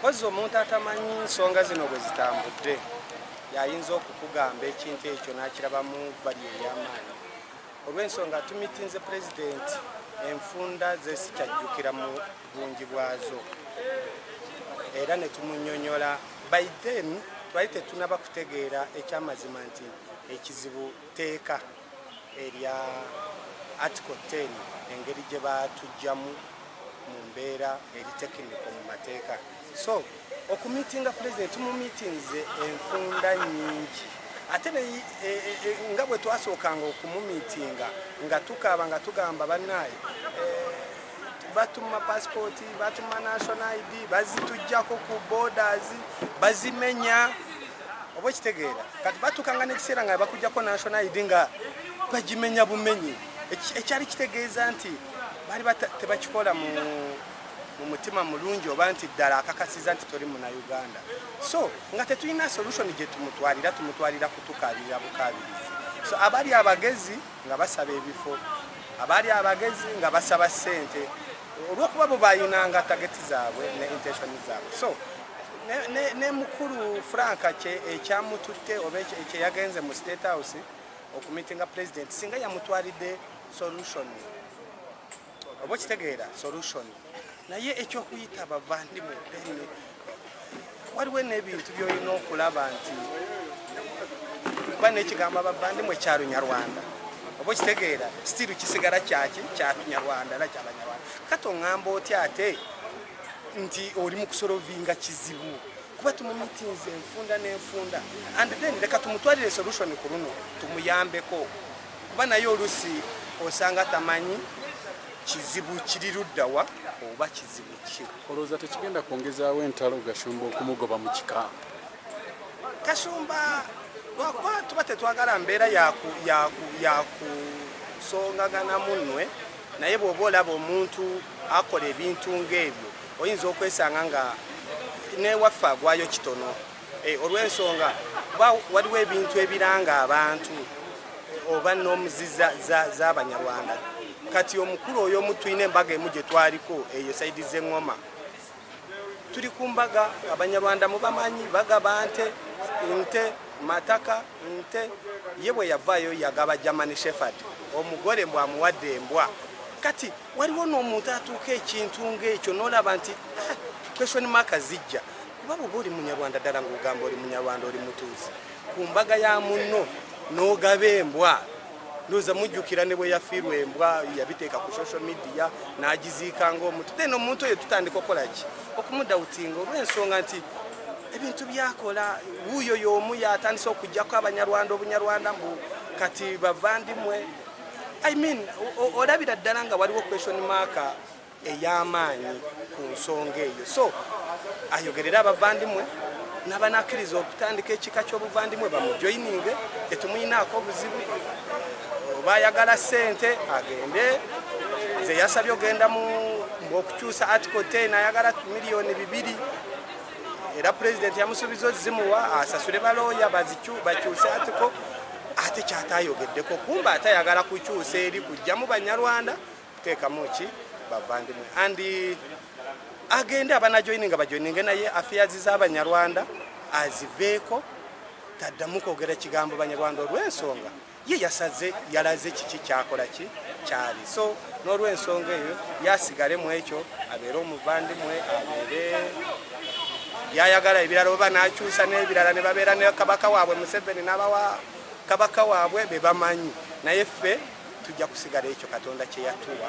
Mpozzi omuntu atamanyi nsonga zino bwe zitambudde y'ayinza okukugamba ekintu ekyo n'akirabamu bali ey'amaanyi. Olw'ensonga tumitinze Pulezidenti enfunda ze sikyajjukira mu bungi bwazo era ne tumunyonyola by then twali tetunaba kutegeera ekyamazima nti ekizibu tteeka. erya Article ten engeri gye baatuggyamu mu mbeera eri tekiniko mu mateeka. So okumiitinga Pulezidenti tumumiitinze enfunda nnyingi ate ne i- e- e- e- nga bwe twasookanga okumumiitinga nga tukaaba nga tugamba bannaaye batuma pasipooti batuma national id bazitujjako ku borders bazimenya oba okitegeera kati batuukanga n'ekiseera nga bakujjako national id nga bagimenya bumenyi ekyali kitegeeza nti baali tebakikola mu mutima mulungi oba nti ddala akakasiza nti toli muna uganda so nga tetulina solution gye tumutwalira tumutwalira kutukabirira bukabirizi so abali abagezi nga basaba ebifo abali abagezi nga basaba ssente olwokuba bo bayinanga tageti zaabwe ne intentioni zaabwe so ne mukulu frank ekyamututte oba ekyeyagenze mu state house okumitinga president singa yamutwalidde solution oba okitegeera solution naye ekyokuyita bavandimwe bene waliwo n'ebintu byolina okulaba nti kuba nekigambo abavandimwe kyalunyarwanda oba okitegeera stiru kisigala kyaki kyalunyarwanda era kyabanyarwanda kati oŋamba otya ate nti oli mu kusolovinga kizibu kuba tumumitinze enfunda n'enfunda and then leka tumutwalire solution ku luno tumuyambeko kuba naye olusi osanga tamanyi kizibu kiri luddawa oba kizibu ki olowooza tekigenda kwongezaawo entalo gashumba okumugoba mu kika kashumba lwakuba tuba tetwagala mbeera yakusongagana munnwe Naye bw'oba olaba omuntu akola ebintu ng'ebyo oyinza okwesanga nga n'ewaffe agwayo kitono e, olw'ensonga kuba waliwo ebintu ebiranga abantu oba noomu z'abanyarwanda kati omukulu oyo omu tulina embaga emu gye twaliko eyo saidi z'eŋŋoma tuli ku mbaga abanyarwanda mubamanyi bagaba nte nte mataka nte ye bwe yavaayo yagaba germany shefard omugole mbw amuwadde embwa kati waliwo n'omuntu atuuka ekintu ngaekyo nolaba nti ah, question maka zijja kuba bwoba oli munyarwanda ddala ngaogamba oli munyarwanda oli mutuuzi ku mbaga ya munno n'ogaba embwa ndoza mujjukira ne bwe yafiirwa embwa yabiteeka ku social media n'agiziika ng'omuntu then omuntu oyo tutandika okukola ki okumudawutinga olw'ensonga nti ebintu byakola wuuyo y'omu yatandise okujjako abanyarwanda obunyarwanda mbu kati bavandimwe i mean olabira ddala nga waliwo question maaka ey'amaanyi ku nsonga eyo so ayogerere abavandimwe n'abanakkiriza okutandika ekika ky'obuvandimwe bamujoyininge tetumuyinaako obuzibu oba ayagala ssente agende nze yasabye ogenda mu okukyusa article 10 ayagala miliyoni bibiri era pulezidenti yamusuubiza ozimuwa asasule balooya bakyuse article ate kyatayogeddeko kumba ate ayagala kukyusa eri kujjamu banyarwanda kutekamu ki bavandimwe and agende abana joininga bajoininge naye affairs z'abanyarwanda aziveeko taddamu kwogera kigambo banyarwanda olw'ensonga ye yasaze yalaze kiki kyakola ki kyali so n'olw'ensonga eyo yasigale mu ekyo abeere omuvandimwe abeere byayagala ebirala oba n'akyusa n'ebirala ne babeera ne kabaka waabwe museveni n'abawa Kabaka wabwe bebamanyi naye ffe tujja kusigala ekyo katonda kyeyatuwa.